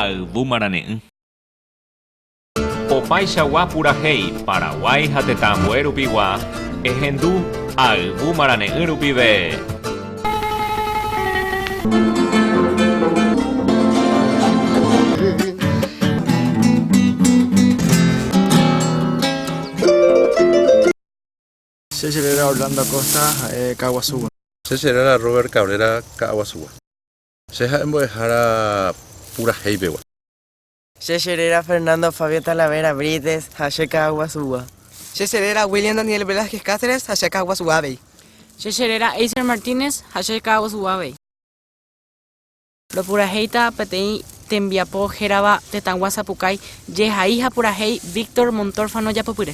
Ha yvu marane'ỹ. Opaichagua purahéi Paraguái ha tetã ambue rupigua, ehendu ha yvu marane'ỹ rupive. Che cheréra Orlando Acosta, ha'e ka'aguasúgua. Che cheréra Robert Cabrera, ka'aguasúgua. Che ha'e mbo'ehára purahéipegua. Che cheréra Fernando Fabio Talavera Brites, ha che ka'aguasúgua. Che cheréra William Daniel Velázquez Cáceres, ha che ka'aguasúgua avei. Che cheréra Eiser Martínez, ha che ka'aguasúgua avei. Ropurahéita peteĩ tembiapo hérava tetãgua sapukái jehai ha purahéi Víctor Montórfano Japopyre.